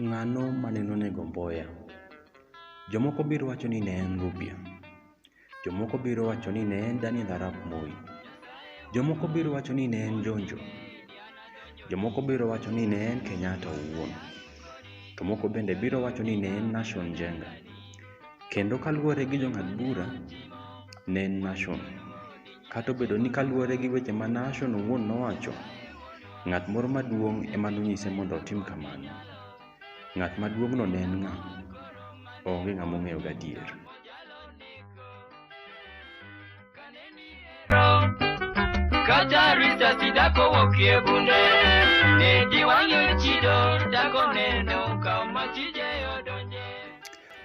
Ng'ano mane nonego Mboya? Jomoko biro wacho ni ne en Rupia. Jomoko biro wacho ni ne en Daniel Arap Moi. Jomoko biro wacho ni ne en Jonjo. Jomoko biro wacho ni ne en Kenyatta owuon. To moko bende biro wacho ni ne en Nashon Njenga. Kendo kaluwore gi jong'ad bura, ne en Nashon. Kata obedo ni kaluwore gi weche ma Nahshon owuon nowacho, ng'at moro maduong' ema nonyise mondo otim kamano. Ng'at maduong'no ne en ng'a? Onge ng'ama ong'eyo gadier. Kata rita sidako wokie bunde, ne giwang'e chido, dako neno kama tije odonje.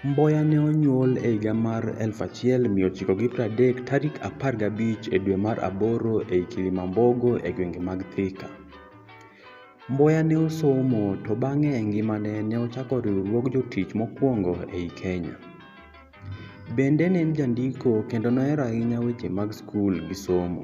Mboya ne onyuol e higa mar 1930 tarik 15 e dwe mar aboro ei Kilimambogo e gwenge mag Thika. Mboya ne osomo to bang'e e ngimane ne ochako riwruog jotich mokwongo ei Kenya. Bende ne en jandiko kendo nohero ahinya weche mag skul gi somo.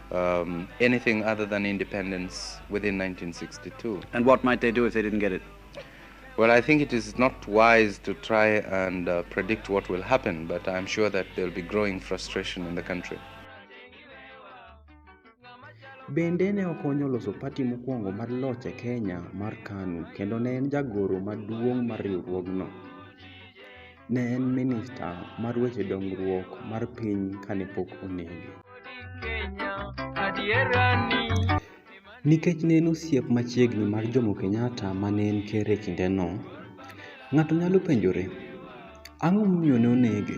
um, anything other than independence within 1962. And what might they do if they didn't get it? Well, I think it is not wise to try and uh, predict what will happen, but I'm sure that there'll be growing frustration in the country. Bende ne okonyo loso pati mokwongo mar loch e Kenya mar KANU kendo ne en jagoro maduong' mar riwruogno. Ne en minista mar weche dongruok mar piny kane pok onege. Nikech ne en osiep machiegni mar Jomo Kenyatta ma ne en ker e kindeno, ng'ato nyalo penjore, ang'o momiyo ne onege?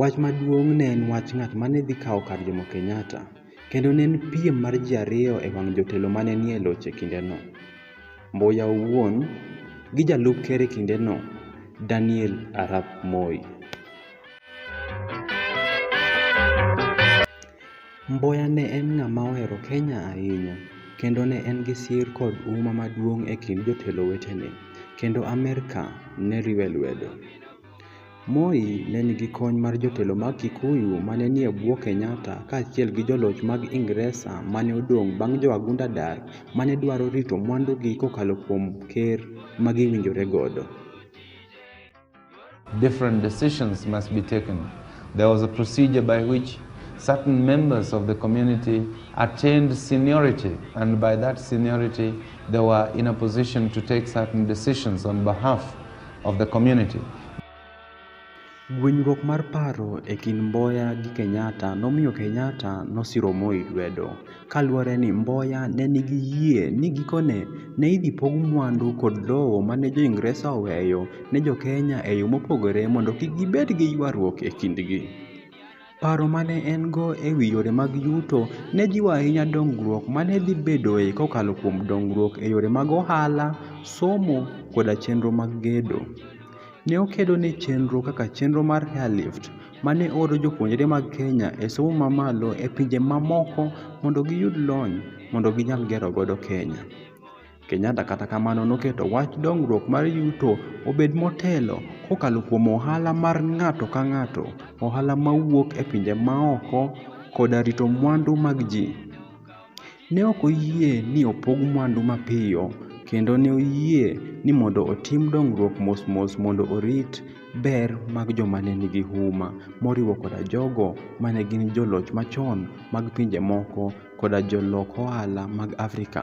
Wach maduong' ne en wach ng'at ma ne dhi kawo kar Jomo Kenyatta, kendo ne en piem mar ji ariyo e wang' jotelo ma ne nie loch e kindeno. Mbuya owuon, gi jalup ker e kindeno, Daniel Arap Moi. Mbuya ne en ng'ama ohero Kenya ahinya, kendo ne en gi sir kod huma maduong' e kind jotelo wetene, kendo Amerka ne riwe lwedo. Moi ne nigi kony mar jotelo mag Kikuyu ma ne nie bwo Kenyatta kaachiel gi joloch mag Ingresa ma ne odong' bang' jowagunda dar ma ne dwaro rito mwandugi kokalo kuom ker ma giwinjore godo. Different decisions must be taken. There was a procedure by which certain members of the community attained seniority, and by that seniority, they were in a position to take certain decisions on behalf of the community. Gwenyruok mar paro e kind Mboya gi Kenyatta nomiyo Kenyatta nosiro Moi lwedo, kaluwore ni Mboya ne nigi yie ni gikone ne idhi pog mwandu kod lowo ma ne Jo-Ingresa oweyo ne Jo-Kenya e yo mopogore mondo kik gibed gi ywaruok e kindgi. Paro ma ne en-go e wi yore mag yuto ne jiwo ahinya dongruok ma ne dhi bedoe kokalo kuom dongruok e yore mag ohala, somo, koda chenro mag gedo. Ne okedo ne chenro kaka chenro mar Airlift, ma ne oro jopuonjre mag Kenya e somo mamalo e pinje mamoko mondo giyud lony mondo ginyal gero godo Kenya. Kenyatta kata kamano noketo wach dongruok mar yuto obed motelo kokalo kuom ohala mar ng'ato ka ng'ato, ohala mawuok e pinje maoko, koda rito mwandu mag ji. Ne ok oyie ni opog mwandu mapiyo, kendo ne oyie ni mondo otim dongruok mosmos mondo orit ber mag joma ne nigi huma, moriwo koda jogo ma ne gin joloch machon mag pinje moko koda jolok ohala mag Afrika.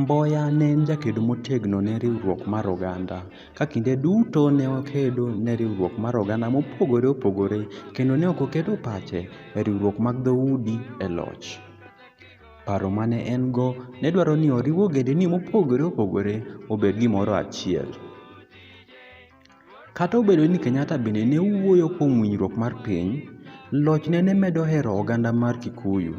Mboya ne en jakedo motegno ne riwruok mar oganda, ka kinde duto ne okedo ne riwruok mar oganda mopogore opogore kendo ne ok oketo pache e riwruok mag dhoudi e loch. Paro ma ne en-go ne dwaro ni oriw ogendini mopogore opogore obed gimoro achiel. Kata obedo ni Kenyatta bende ne wuoyo kuom winjruok mar piny, lochne ne medo hero oganda mar Kikuyu.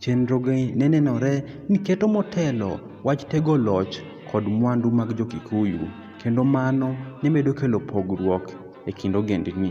Chenroge ne nenore ni keto motelo wach tego loch kod mwandu mag Jo-Kikuyu, kendo mano ne medo kelo pogruok e kind ogendni.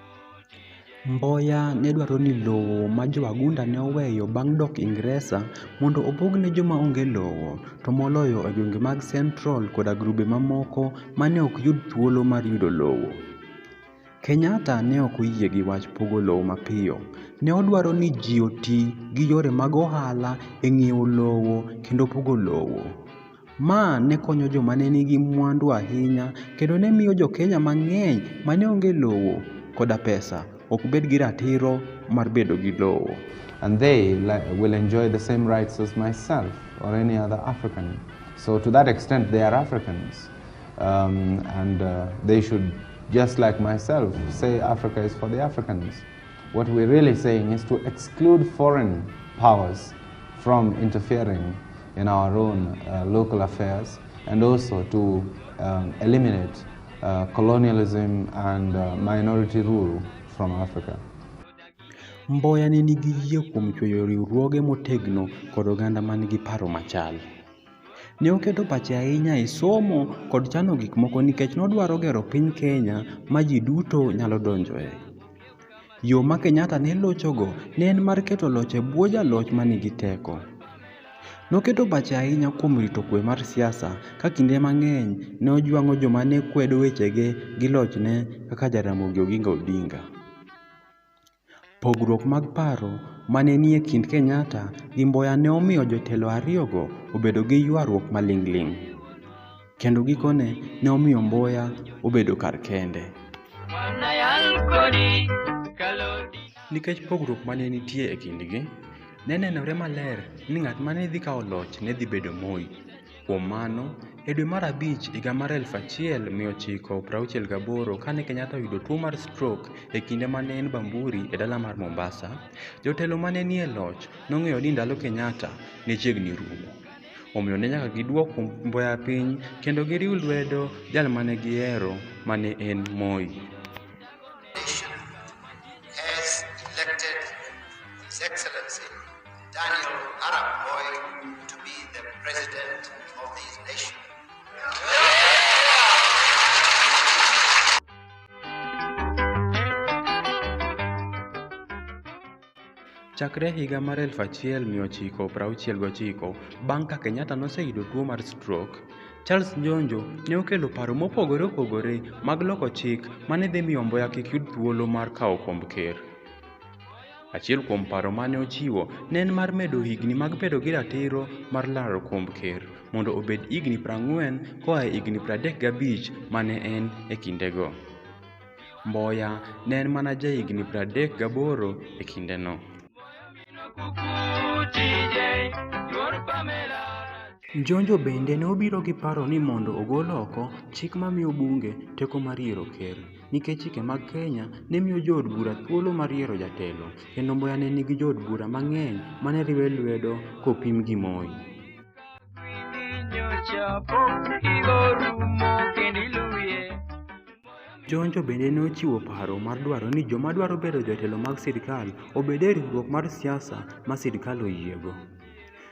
Mboya ne dwaro ni lowo ma Jo-Agunda ne oweyo bang' dok Ingresa mondo opog ne joma onge lowo, to moloyo e gwenge mag Central koda grube mamoko ma ne ok yud thuolo mar yudo lowo. Kenyatta ne ok oyie gi wach pogo lowo mapiyo. Ne odwaro ni ji oti gi yore mag ohala e ng'iewo lowo kendo pogo lowo. Ma ne konyo joma ne nigi mwandu ahinya kendo ne miyo Jo-Kenya mang'eny ma ne onge lowo koda pesa ok bed gi ratiro mar bedo gi lowo. And they will enjoy the same rights as myself or any other African. So to that extent they are Africans. Um, and uh, they should, just like myself, say Africa is for the Africans. What we're really saying is to exclude foreign powers from interfering in our own uh, local affairs and also to um, eliminate uh, colonialism and uh, minority rule from Africa. Mboya ne nigi yie kuom chweyo riwruoge motegno kod oganda man gi paro machal. Ne oketo pache ahinya e somo kod chano gik moko nikech nodwaro gero piny Kenya ma ji duto nyalo donjoe. Yo ma Kenyatta ne lochogo ne en mar keto loch e bwo jaloch ma nigi teko. Noketo pache ahinya kuom rito kuwe mar siasa ka kinde mang'eny ne ojwang'o joma ne kwedo wechege gi lochne kaka Jaramogi Oginga Odinga. Pogruok mag paro ma ne nie kind Kenyatta gi Mboya ne omiyo jotelo ariyogo obedo gi ywaruok maling'ling', kendo gikone ne omiyo Mboya obedo kar kende. Nikech pogruok ma ne nitie e kindgi, ne nenore maler ni ng'at ma ne dhi kawo loch ne dhi bedo Moi. Kuom mano, e dwe mar abich higa mar 1968 kane Kenyatta oyudo tuo mar strok e kinde ma ne en Bamburi e dala mar Mombasa, jotelo ma ne nie loch nong'eyo ni ndalo Kenyatta ne chiegni rumo. Omiyo ne nyaka giduok mboya piny kendo giriw lwedo jal ma ne gihero ma ne en Moi. Daniel Arap Moi to be the president of these nations. Chakre higa mar 1969, bang' ka Kenyatta noseyudo tuo mar stroke, Charles Njonjo ne okelo paro mopogore opogore mag loko chik ma ne dhi miyo Mboya kik yud thuolo mar kawo komb ker. Achiel kuom paro ma ne ochiwo ne en mar medo higni mag bedo gi ratiro mar laro komb ker mondo obed higni prang'wen koa e higni pradek gabich ma ne en e kindego. Mboya ne en mana ja higni pradek gaboro e kindeno. Njonjo bende ne obiro gi paro ni mondo ogol oko chik mamiyo bunge teko mar yiero ker. nikech chike mag Kenya ne miyo jood bura thuolo mar yiero jatelo, kendo Mboya ne nigi jood bura mang'eny ma ne riwe lwedo kopim gi Moi. Jonjo bende ne ochiwo paro mar dwaro ni joma dwaro bedo jotelo mag sirkal obed e riwruok mar siasa ma sirkal oyiego.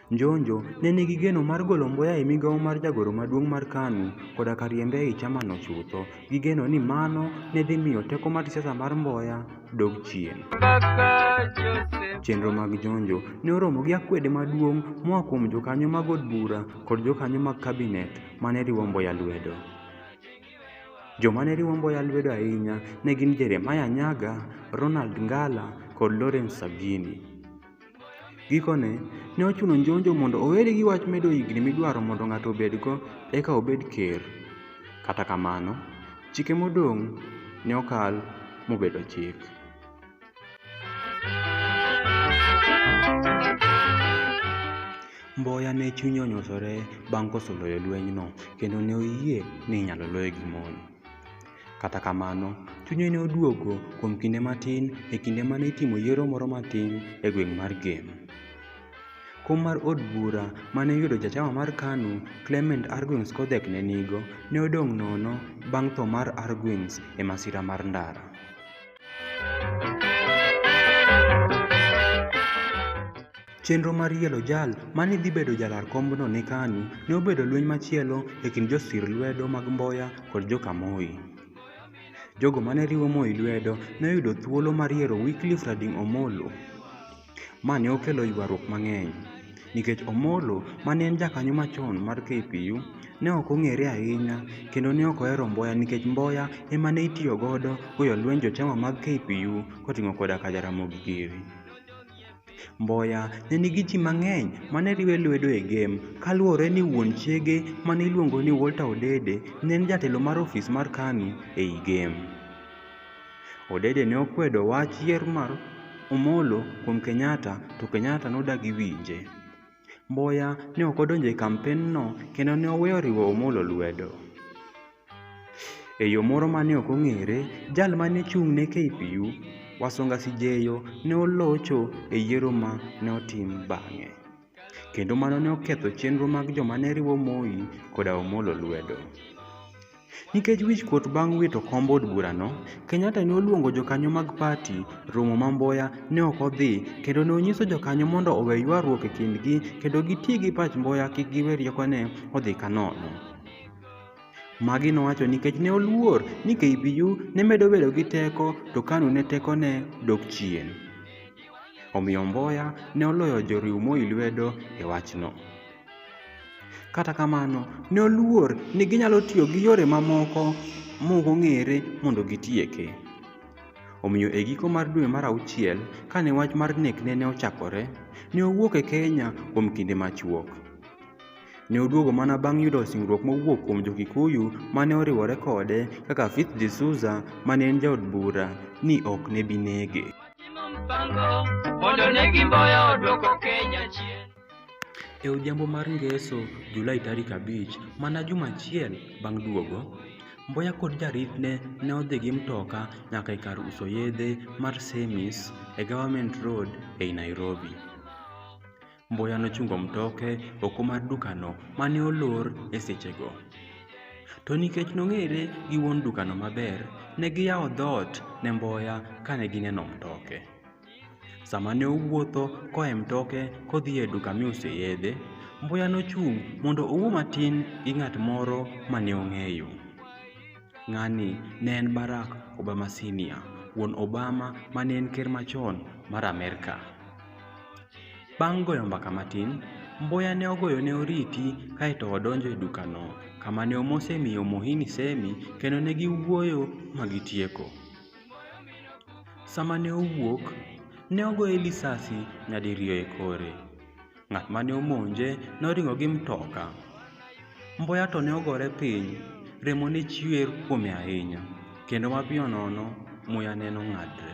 Njonjo ne nigi geno mar golo Mboya e migawo mar jagoro maduong' mar KANU koda ka riembe ei chamano chutho, gi geno ni mano ne dhi miyo teko mar siasa mar Mboya dog chien. Chenro mag Njonjo ne oromo gi akwede maduong' moa kuom jokanyo mag od bura kod jokanyo mag kabinet ma ne riwo Mboya lwedo. Joma ne riwo Mboya lwedo ahinya ne gin Jeremiah Nyaga, Ronald Ngala, kod Lawrence Sagini. Gikone, ne ochuno Njonjo mondo owere gi wach medo higni midwaro mondo ng'ato obedgo eka obed ker. Kata kamano, chike modong' ne okal mobedo chik. Mboya ne chunye onyosore bang' koso loyo lwenyno kendo ne oyie ni inyalo loye gi mon. Kata kamano, chunye ne oduogo kuom kinde matin e kinde ma ne itimo yiero moro matin e gweng' mar Gem. Kom mar od bura ma ne yudo jachama mar KANU, Clement Arguings Kodhek ne nigo, ne odong' nono bang' tho mar Arguings e masira mar ndara. Chenro mar yiero jal ma ne dhi bedo jalar kombno ne KANU ne obedo lweny machielo e kind josir lwedo mag Mboya kod joka Moi. Jogo ma ne riwo Moi lwedo ne oyudo thuolo mar yiero Wycliffe Rading Omolo. Ma ne okelo ywaruok mang'eny, nikech Omolo ma ne en jakanyo machon mar KPU ne ok ong'ere ahinya kendo ne ok ohero Mboya nikech Mboya ema ne itiyo godo goyo lweny jochama mag KPU koting'o koda ka Jaramogi Giri. Mboya ne nigi ji mang'eny ma ne riwe lwedo e gem. Kaluwore ni wuon chiege ma ne iluongo ni Walter Odede ne en jatelo mar ofis mar KANU e i gem. Odede ne okwedo wach yier mar Omolo kuom Kenyatta to Kenyatta nodagi winje. Mboya ne ok odonjo e kampenno kendo ne oweyo riwo Omolo lwedo. E yo moro ma ne ok ong'ere, jal ma ne chung' ne KPU, Wasonga Sijeyo, ne olocho e yiero ma ne otim bang'e, kendo mano ne oketho chenro mag joma ne riwo Moi koda Omolo lwedo. Nikech wichkuot bang' wito kom od burano, Kenyatta ne oluongo jokanyo mag parti romo ma Mboya ne ok odhi kendo ne onyiso jokanyo mondo owe ywaruok e kindgi kendo giti gi pach Mboya kik giwe riekone odhi kanono. Magi nowacho nikech ne oluor ni KBU ne medo bedo gi teko to KANU ne tekone dok chien. Omiyo Mboya ne oloyo joriw Moi lwedo e wachno. Kata kamano, ne oluor ni ginyalo tiyo gi yore mamoko mok ong'ere mondo gitieke. Omiyo e giko mar dwe mar auchiel, kane wach mar nekne ne ochakore, ne owuok e Kenya kuom kinde machuok. Ne oduogo mana bang' yudo singruok mowuok kuom Jo-Kikuyu ma ne oriwore kode kaka Fitz D'Souza ma ne en jaod bura ni ok ne bi nege. E odhiambo mar Ngeso, Julai tarik abich, mana juma achiel bang' duogo, Mboya kod jaritne ne odhi gi mtoka nyaka e kar uso yedhe mar Semis e Government Road ei Nairobi. Mbuya nochungo mtoke oko mar dukano mane olor e sechego. To nikech nong'ere gi wuon dukano maber, ne giyawo dhoot ne Mboya kane gineno mtoke. Sama ne owuotho koa e mtoke kodhi e duka mi use yedhe, Mbuya nochung' mondo owuo matin gi ng'at moro mane ong'eyo. Ng'ani ne en Barack Obama Senior, wuon Obama mane en ker machon mar Amerka. Bang' goyo mbaka matin, Mboya ne ogoyo ne Oriti kae to odonjo e dukano, kama ne omose mi Omohini Semi kendo ne giwuoyo ma gitieko. Sama ne owuok, ne ogoye lisasi nyadiriyo e kore. Ng'at ma ne omonje noringo gi mtoka. Mboya to ne ogore piny, remo ne chwer kuome ahinya, kendo mapiyo nono muya ne nong'adre.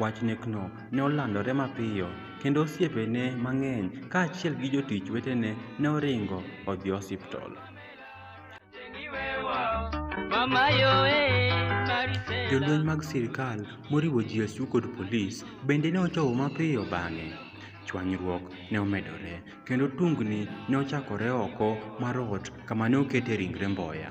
Wach nekno ne olandore mapiyo, kendo osiepene mang'eny kaachiel gi jotich wetene ne oringo odhi osiptal. Jolweny mag sirkal moriwo GSU kod polis bende ne ochopo mapiyo bang'e. Chwanyruok ne omedore, kendo tungni ne ochakore oko mar ot kama ne okete ringre Mboya.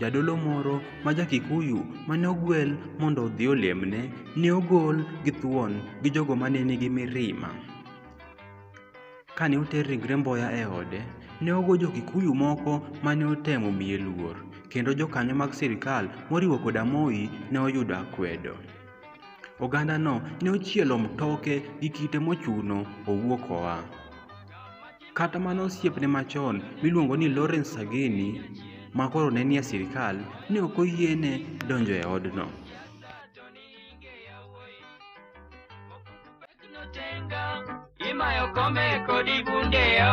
Jadolo moro ma ja-Kikuyu mane ogwel mondo odhi olemne ne ogol gi thuon gi jogo mane nigi mirima. Kane oter ringre Mboya e ode, ne ogo jo-Kikuyu moko mane otemo miye luor, kendo jokanyo mag sirkal moriwo koda Moi ne oyudo akwedo. Ogandano ne ochielo mtoke gi kite mochuno owuok oa. Kata mana osiepne machon miluongo ni Lawrence Sagini ma koro ne nie sirkal ne ok oyiene donjo e odno. Imayo kome kodi bundeyo.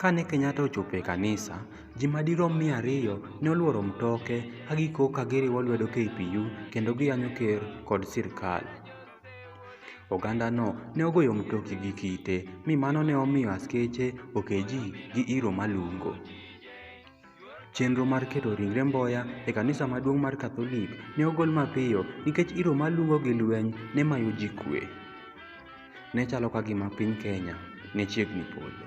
Kane Kenyatta ochopo e kanisa, ji madirom mia ariyo ne olworo mtoke ka gikok ka giriwo lwedo KPU kendo giyanyo ker kod sirkal. Ogandano ne ogoyo mtoki gi kite mi mano ne omiyo askeche oke ji gi iro malungo. Chenro mar keto ringre Mboya e kanisa maduong' mar Katholik ne ogol mapiyo nikech iro malungo gi lweny ne mayo ji kwe. Ne chalo ka gima piny Kenya ne chiegni podho.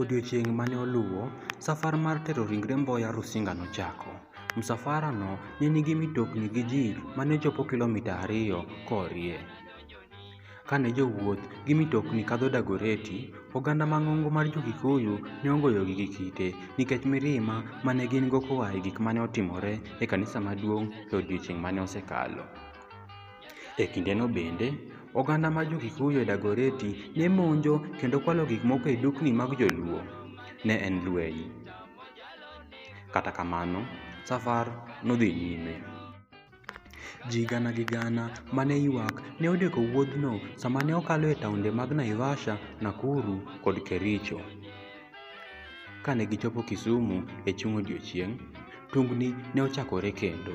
Odiechieng' ma ne oluwo, safar mar tero ringre Mboya Rusinga nochako. Msafarano ne nigi mitokni gi ji ma ne chopo kilomita ariyo korie. Ka ne jowuoth gi mitokni kadho Dagoretti, oganda mang'ongo mar Jo-Kikuyu ne ogoyogi gi kite nikech mirima ma ne gin-go koa e gik ma ne otimore e kanisa maduong' e odiechieng' ma ne osekalo. E kindeno bende, oganda mar Jo-Kikuyu e Dagoretti ne monjo kendo kwalo gik moko e dukni mag Joluo. Ne en lweny. Kata kamano, safar nodhi nyime. Ji gana gi gana ma ne ywak ne odeko wuodhno sama ne okalo e taonde mag Naivasha, Nakuru, kod Kericho. Ka ne gichopo Kisumu e chung' odiechieng', tungni ne ochakore kendo.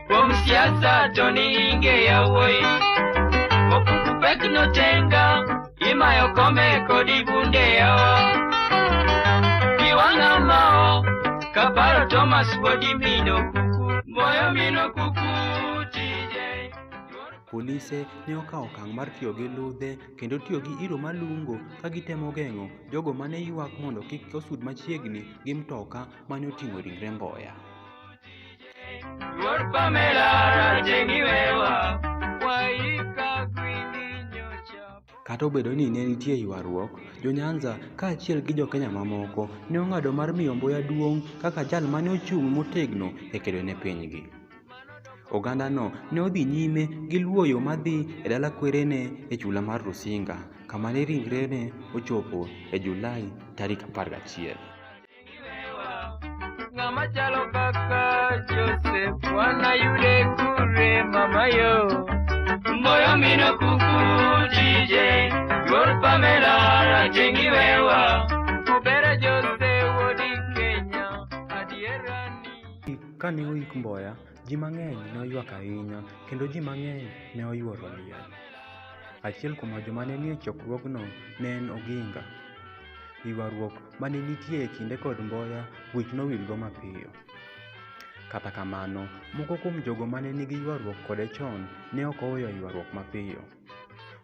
Kuom siasa to ni inge yawuoyi Okuku pek notenga Imayo kome kodi bunde yawa Iwanga mao Kaparo Thomas Wodi Mino Kuku Moyo Mino Kuku TJ Polise ne okawo okang' mar tiyo gi ludhe kendo tiyo gi iro malungo ka gitemo geng'o jogo ma ne ywak mondo kik osud machiegni gi mtoka ma ne oting'o ringre Mboya. Kata obedo ni ne nitie ywaruok, Jo-Nyanza kaachiel gi Jo-Kenya mamoko ne ong'ado mar miyo Mbuya duong' kaka jal ma ne ochung' motegno e kedo ne pinygi. Ogandano ne odhi nyime gi luwo yo ma dhi e dala kwerene e chula mar Rusinga, kama ne ringrene ochopo e Julai tarik 11. Ng'ama chalo kaka Joseph wana yude kure mama yo Mboyo mino kuku DJ Yor Pamela rajengi wewa Kubera Joseph wodi Kenya adierani Kane oik Mboya, ji mang'eny ne oywak ahinya kendo ji mang'eny ne oyuoro liel. Achiel kuom joma ne nie chokruogno ne en Oginga. Ywaruok ma ne nitie e kinde kod Mboya wich nowilgo mapiyo. Kata kamano, moko kuom jogo ma ne nigi ywaruok kode chon ne ok oweyo ywaruok mapiyo.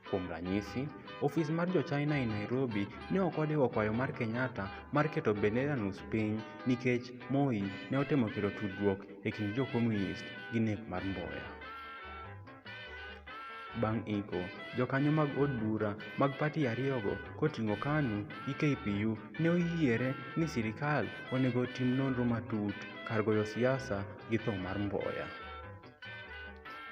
Kuom ranyisi, ofis mar Jo-China e Nairobi ne ok odewo kwayo mar Kenyatta mar keto bendera nus piny nikech Moi ne otemo kelo tudruok e kind Jo-Komunist gi nek mar Mboya. Bang' iko, jokanyo mag od bura mag pati ariyogo koting'o KANU gi KPU ne oyiere ni sirikal onego otim nonro matut kar goyo siasa gi tho mar Mboya.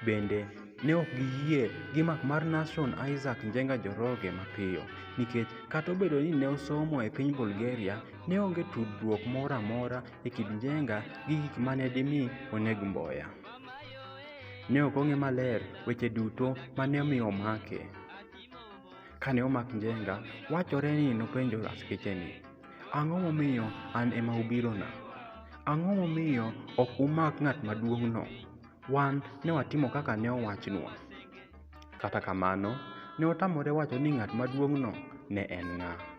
Bende, ne ok giyie gi mak mar Nashon Isaac Njenga Njoroge mapiyo nikech kata obedo ni ne osomo e piny Bulgaria, ne onge tudruok moro amora e kind Njenga gi gik ma ne dimi oneg Mboya. Ne ok ong'e maler weche duto ma ne omiyo omake. Kane omak Njenga, wachore ni nopenjo askeche ni, Ang'o momiyo an ema ubirona? Ang'o momiyo ok umak ng'at maduong'no? Wan ne watimo kaka ne owachnwa. Kata kamano, ne otamore wacho ni ng'at maduong'no ne en ng'a.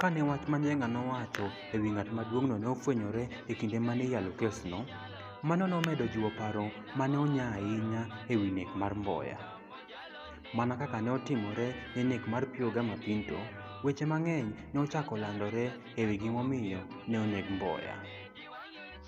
Kane wach ma Njenga nowacho e wi ng'at maduong'no ne ofwenyore e kinde ma ne iyalo kesno, mano nomedo jiwo paro ma ne onya ahinya e wi nek mar Mboya. Mana kaka ne otimore ne nek mar Pio Gama Pinto, weche mang'eny ne ochako landore e wi gimomiyo ne oneg Mboya.